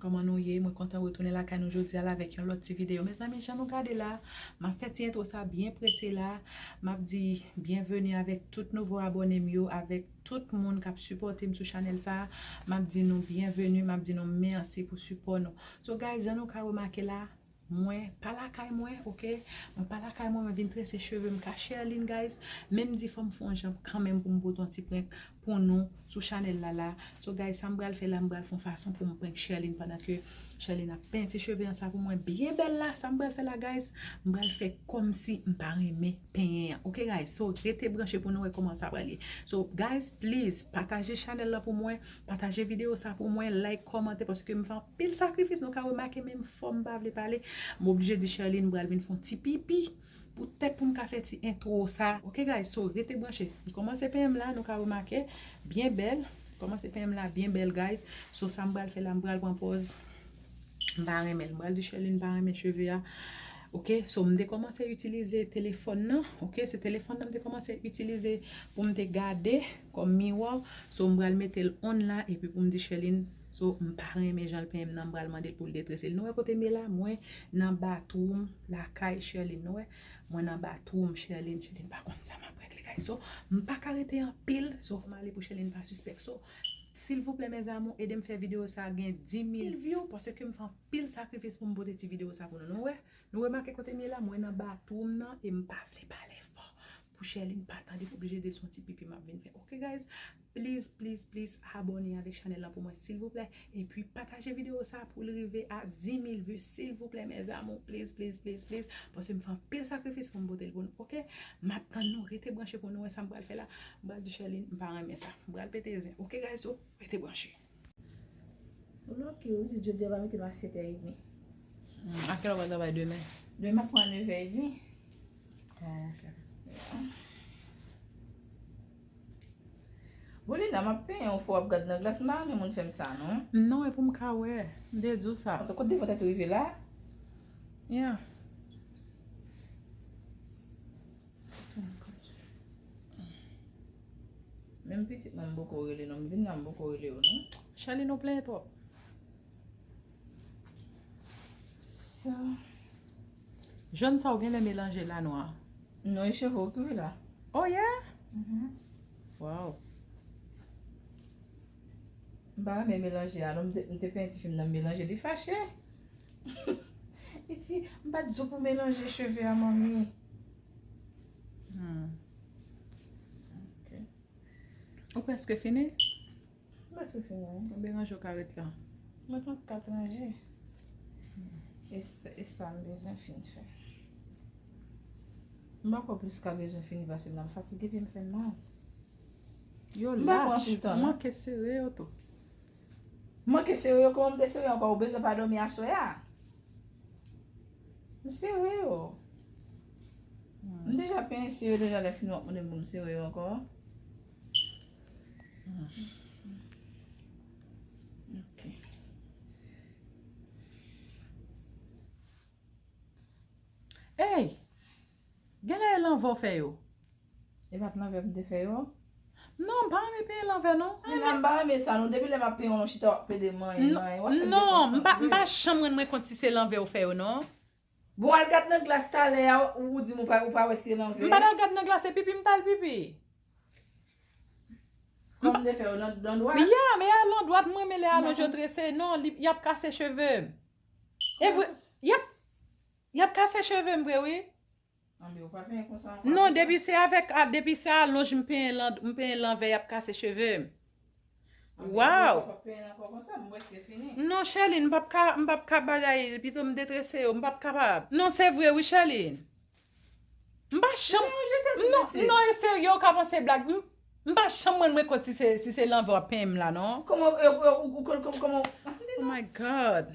Kòman nou ye mwen kontan retounen lakay nou jodia la avèk yon lòt ti video mezanmi jan nou gade la map fè ti entwo sa byen prese la map di byenveni avèk tout nouvo abòne m yo avèk tout moun kap sipòte m sou chanèl sa map di nou byenveni map di nou mèsi pou sipò nou so guys jan nou ka remake la Mwen pa lakay mwen ok. Mwen pa lakay mwen mwen vin trese chevem ka cherline guys men m di fom fon yon jan kanmenm poum pote yon ti prank pou nou sou chanel la la so guys sam pral fè la m pral fon fason poum prank cherline pandan ke cherline ap penti cheve an sa pou mwen byen bèl la sam pral fè la guys m pral fè komsi m pa renmen penyen an ok guys so rete branche pou nou wè koman sa pral ye so guys please pataje chanel la pou mwen pataje video sa pou mwen like komante paske m. Pil sakrifis nou ka remake menm fòm pa vle pale m oblije di Sherline m pral vin fon ti pipi pou tèt pou m ka fè ti intro sa ok guys so rete branche m kòmanse pen m la nou ka remake byen bèl m kòmanse pen m la byen bèl guys so sa m pral fè la m pral pran pòz m pa renmen l m pral di Sherline m pa renmen cheve a ok so m te kòmanse itilize telefòn nan ok se telefòn nan m te kòmanse itilize pou m te gade kòm miwa so m pral mete l on la epi pou m di Sherline. So m pa renmen janl penyen m nan m pral mandel poul detrese l nou wè kote m ye la mwen nan bathroom lakay Sherline nou wè mwen nan bathroom Sherline Sherline pa konn sa map regle kay so m paka rete anpil so fòm ale pou Sherline pa sispèk so silvouplè mes amour edem fè video sa gen 10000 view paske m fè anpil sakrifis poum pote ti video sa pou nou nou wè nou remake kote m ye la mwen nan bathroom nan e m pa vle pale fò Pou Sherline pa tande pou oblije dil son ti pipi map vin fè ok guys please please please abone avèk chanèl lan pou mwen silvouplè epi pataje video sa poul rive a 10000 vu silvouplè mes amour please please please please paske m fè anpil sakrifis poum potel pou nou ok map tann nou rete branche pou nou wè sam pral fè la m pral di Sherline m pa renmen sa m pral pete zen ok guys so rete branche. Ou lòke wi, jodi a ou va mete m a 7 è edmi. A kèlè ou pral travay demen? Demen m ap pran 9 è edmi. Oh ok. Bon Lina, m ap penyen ou fò w ap gad nan glas, m pa renmen moun fè m sa non. Non, e pou m ka wè. M te di w sa. An tou kot devan tèt ou rive la. Yeah. Menm pitit mwen m boko rele non, m vin la m boko rele yo non. Charline ou plenyen twòp. Jòn sa ou genlè melanje la nwa. Non e cheve ou ki wi la. Oh yeah? Waww. M pa renmen melanje a non m te penti fim nan m melanje li fache li di m pat di w pou melanje cheve a manmi hmm ok ou preske fini? m preske fini wi ou melanje ou ka ret la mwen pa ka tranje e sa m bezwen fin fè m pa kwè plis ka bezwen fini pase m nan m fatige pye m fè mal. Yo lach, ou manke sere yo tou. M manke sere yo, kouman m te sere ankò, ou bezwen pa dòmi aswè a? M sere yo. M deja penyen sere yo deja lè fini w ap mande m pou m sere yo ankò. Ey! Genlè e lanvè w fè yo. E pat lanvè m te fè yo. Non m pa renmen peye lanvè non. Li menm pa renmen sa non depi lè map peye wap chita wap pede manyen manyen wap fèm dekonsantre. Non m pa janm rann mwen kont si se lanvè ou fè yo non. Bon al gad nan glas talè a ou di m ou pa wè si e lanvè. M pa tal gad nan glas e pipi m tal pipi. Kòm de fè yo nan dwat. Ya m e a lan dwat m renmen lè alonj yo trese non yap kase cheve m. Evre yap. Yap kase chevem vre wi. Anmyoo pa penyen konsa anko. Non depi se avek depi se alonj m penyen lan m penyen lanvè yap kase chevem. Waww. Anmyoo pap penyen anko konsa m wè se fini. Non Sherline m pap ka m pap ka bagay pito m detrese yo m pap kapab. Non se vre wi Sherline. M pa janm Ou genlè ou jete tout mesye. Non e serye ou ka panse blag m m pa janm ranmwen kont si se si se lanvè wap penyen m la non. Koman ou ou ou koman ou. Oh my God.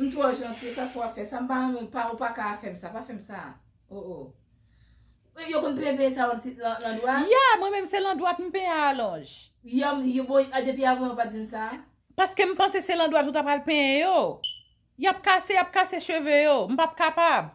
M twò janti e sa k fè w ap fè sa? M pa renmen w pa ou pa ka a fè m sa pa fè m sa oo Ou yo konn peye peye sa yo ti lan dwa? Ya mwen menm se lan dwat m penyen a alonj. Ya m yo bon a depi avan yo pa di m sa? Paske m panse se lan dwat ou ta pral penyen yo Y ap kase y ap kase cheve yo m p ap kapab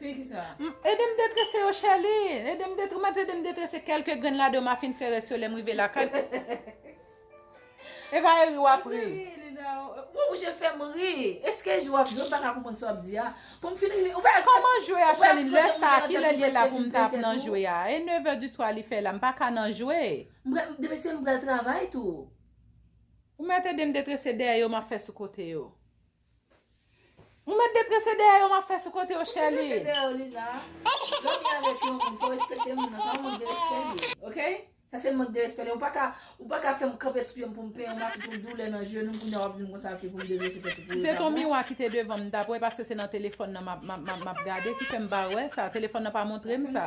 Edem detrese yo chèli. Edem detre mèt edem detrese kelke grenn ladan ma fin fè rès yo lèm rive lakay. Epa e ri wap ri. Ou oblije fèm ri. Eske jwe wap jwe m paka konprann sa wap di a. Poum fin ri ou pa wè. Koman jwe a chèlin lè sa kilè li la poum ta ap nan jwe a. E 9 è di swa li fè la m paka nan jwe. Demen se m pral travay tou. Ou mèt edem detrese dèyè yo map fè sou kote yo. Ou met de trese dèyè yo map fè sou kote yo chèli. Met de trese dèyè yo Lina. Lèw gen avèk yon moun fòw respekte moun nan sa yon mank de respè li ye ok sa se mank de respè li ou paka ou paka fèm kanpe sou pyem poum penyenw map fèt yon doulè nan jenou kounya wap dim konsa ok poum detrese tèt ou pou ou ta bon. Miwa ki te devanm m tap wè paske se nan telefòn nan map gade ki fèm pa wè sa telefòn nan pa montrem sa.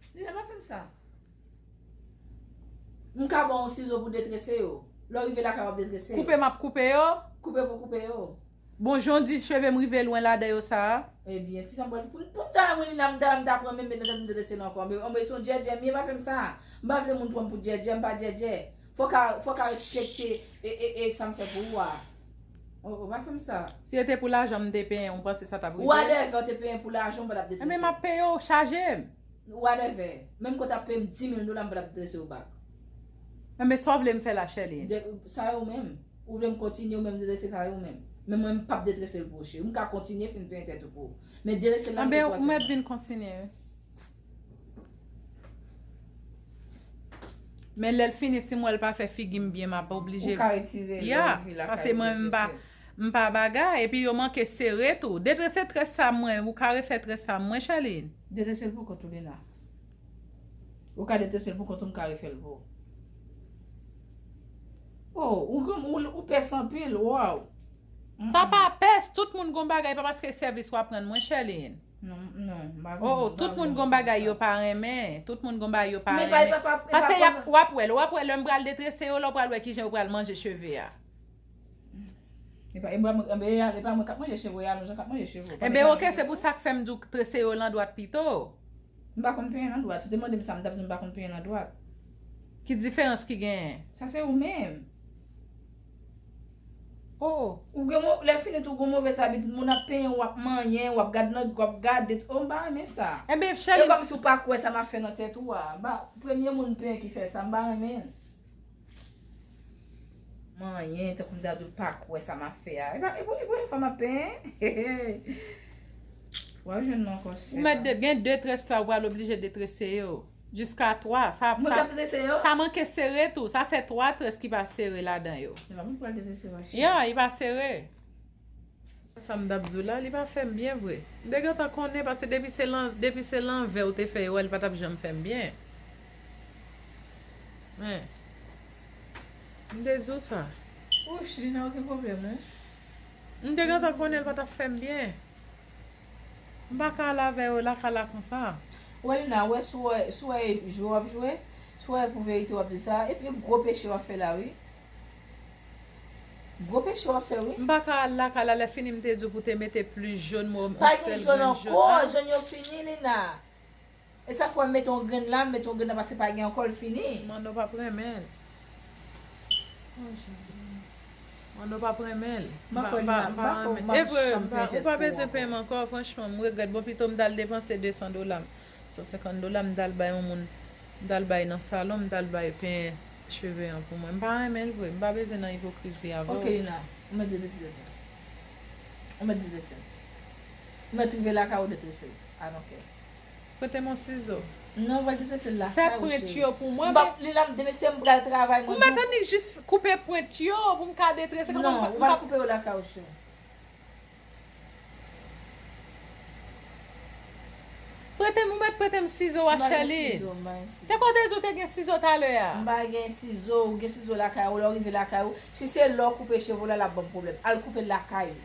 Stella pa fem sa. M ka baw yon sizo pou detrese yo. Lè w rive lakay wap detrese yo. Koupe map koupe yo. Koupe pou koupe yo. Bon jan w di cheve m rive lwen ladan yo sa a. Ebyen kisa m pral fè. Pou m ta wè mwen li la m ta wè m ta pran menm met nan tèt m detrese l ankò. Anmweyy son djèdjè m ye pa fem sa. M pa vle moun pran m pou djèdjè m pa djèdjè. Fok a respekte e e e sa m fè pou ou a. Oh oh pa fèm sa. Si yo te pou lajan m te penyen ou panse sa tap rive? Wadèvè ou te penyen pou lajan ou pa tap detrese. Enben map peye ou chaje m. Wadèvè. Menm ke w ta peye m 10 mil dola m pa tap detrese ou bak. Enben sa w vle m fè la Sherline? Sa yo menm. Ou vle m kontinye ou menm detrese sa yo menm. Men mwen m pap detrese l pou ou cheri. M ka kontinye fin penyen tèt ou pou ou. Men detrese l la m te pwese. Enben mwen ap vin kontinye wi. Men lèl fini sim wèl pa fè figim byen map oblije Ou ka retire lè ou vi lakay Pase mwen m pa bagay epi yo manke sere tou Detrese très sa mwen ou ka refè très sa mwen Sherline? Detresel pou kont ou Lina Ou ka detresel pou kont ou m ka refèl pou ou Ou pès anpil waww Sa pa pès tout moun gon bagay pa paske sèvis wap rann mwen Sherline. Non, non, m pa vle. Oh oh tout moun gon bagay yo pa renmen, tout moun gon bagay yo pa renmen. Men bay pa pa pa. Pase yap wap wèl wap wè lèm pral detrese yo lè w pral wè kijan yo pral manje cheve a. Epa epa mwen kap manje cheve a menjan kap manje cheve w. Enben ok se pou sak fèm di w trese yo lan dwat pito. M pa konn penyen nan dwat, si w te mande m sa m tap di w m pa konn penyen nan dwat. Ki diferans ki genyen? Sa se ou menm. Oh. Ou gen mo lè fini tou ou gen movès abitid moun ap penyenw wap manyen wap gad nan wap gade oh m pa renmen sa. Enben cheri. E kòmsi ou pa kwè sa map fè nan tèt ou a ba premye moun m penyen ki fè sa m pa renmen. Manyen tankou m ta diw pa kwè sa map fè a epa e premye fwa map penyen hehe. Wap jwenn mwen ankò sèm. Ou mèt de gen 2 tres la ou pral oblije detrese yo. Jiska 3, sa, sa, sa manke sere tou, sa fè 3 tres ki pa sere ladan yo. Se pa moun pral dese se vache. Ya, li pa sere. Sa m tap di w la, li pa fèm byen vre. M te gentan konnen paske depi se lan, depi se lanvè ou te fè yo a li pa tap janm fèm byen. Hein. M te di w sa. Wouch, li nan okenn pwoblèm non. M te gentan konnen l pa tap fèm byen. M pa ka al avè yo laka la konsa. Rolinah wè sou wè sou wè e jwe wap jwe sou wè e pou verite wap di sa epi e gwo peche wap fè la wi gwo peche wap fè wi. M pa ka al lakay la lè fini m te di w pou te mete plis jaune m wè w m on sèl grenn jaune ahh. Pa gen jaune ankò jaune yo fini Lina. E sak fè mete yon grenn la, mete yon grenn la pase pa gen ankò li fini. Manno pap renmenl. Oh jezi. Manno pap renmenl. Evre ou pa bezwen peyim ankò franchman m regrèt bon pito m tal depanse 200 dolam 150 dolam m tal bay yon moun m tal bay nan salon m tal bay penyen cheve an pou mwen m pa renmenl vre m pa bezwen nan ipokrizi avèw. Ok Lina ou mèt deteste tou. Ou mèt detestel. Ou mèt rive lakay ou detestel. I don't care. Prete m yon sizo. Non ou pral te trese l la kay ou cheri. M pap li la mde mesye m pral travay mwen dou. Mwen jis koupe pwent yo pou m ka detrese. Non ou pral koupe yo lakay ou cheri. Prete m ou met prete m sizo a Sherline. Te kon w te di w te gen sizo talè a. M pa gen sizo ou gen sizo lakay ou lè ou rive lakay ou si se lè ou koupe cheve w la lap banm pwoblèm al koupe l lakay ou.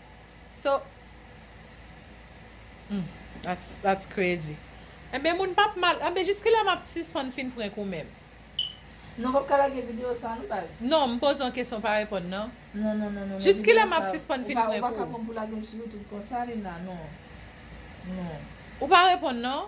So Humm that's that's crazy Enben moun pap mal Enben jiskilè map sispann fin prank ou menm? Non pap ka lage video sa non baz. Non m poze yon kesyon pa reponn nan. Non non non non Jis kilè map sispann fin prank ou? Ou pa ka pranm pou lagem sou YouTube konsa Lina non. Non. Ou pa reponn non.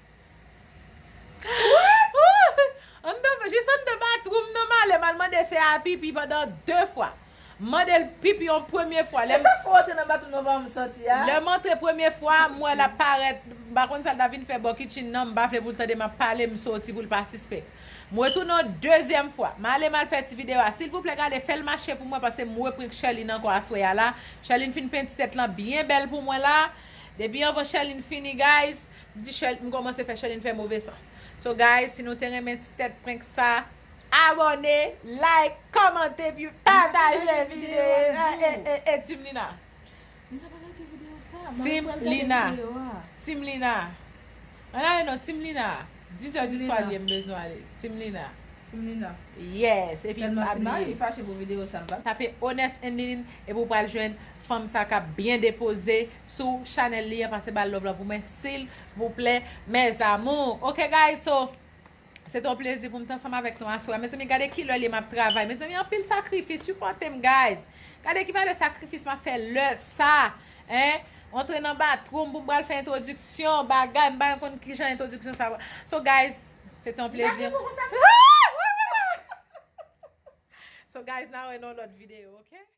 Jis anndan batwoum nan m ale m al mande se a pipi pandan 2 fwa. M mande l pipi yon premye fwa. Lè m antre premye fwa a m wè l ap parèt m pa konn sa l ta vin fè bò kitchen nan m pa vle pou l tande m ap pale m soti pou l pa sispèk. M retounen yon dezyèm fwa. M ale m al fè ti videyo a. Silvouplè gade fè l mache pou mwen paske m reprank Sherline ankò aswè a la. Sherline fin penti tèt lan byen bèl pou mwen la. Depi anvan Sherline fini guys. M komanse fè Sherline fè move san So guys si nou te renmen ti tèt prank sa Abòne like kòmante epi pataje video a ee Team Lina M ta pa rate video sa a Team Lina Team Lina Ann ale non Team Lina 10 heures du soir li ye m bezwen ale Team Lina Team Lina Yes epi pa bliye Selman si mari m fache pou video sa m pa Tape Honest and Liline epi w pral jwenn fanm sa kap byen depoze sou chanel li an pase bal love la pou mwen silvouplè mes amours ok guys so se te yon plezi pou m t ansanm avèk nou aswè a mezanmi gade kilè li ye map travay mezanmi anpil sakrifis sipòte m guys gade ki valè sakrifis map fè lè sa en antre nan batru m pou m pral fè entrodiksyon bagay m pa janm konn kijan entrodiksyon sa va so guys se te yon plezi m so guys na wè nan yon lòt video ok.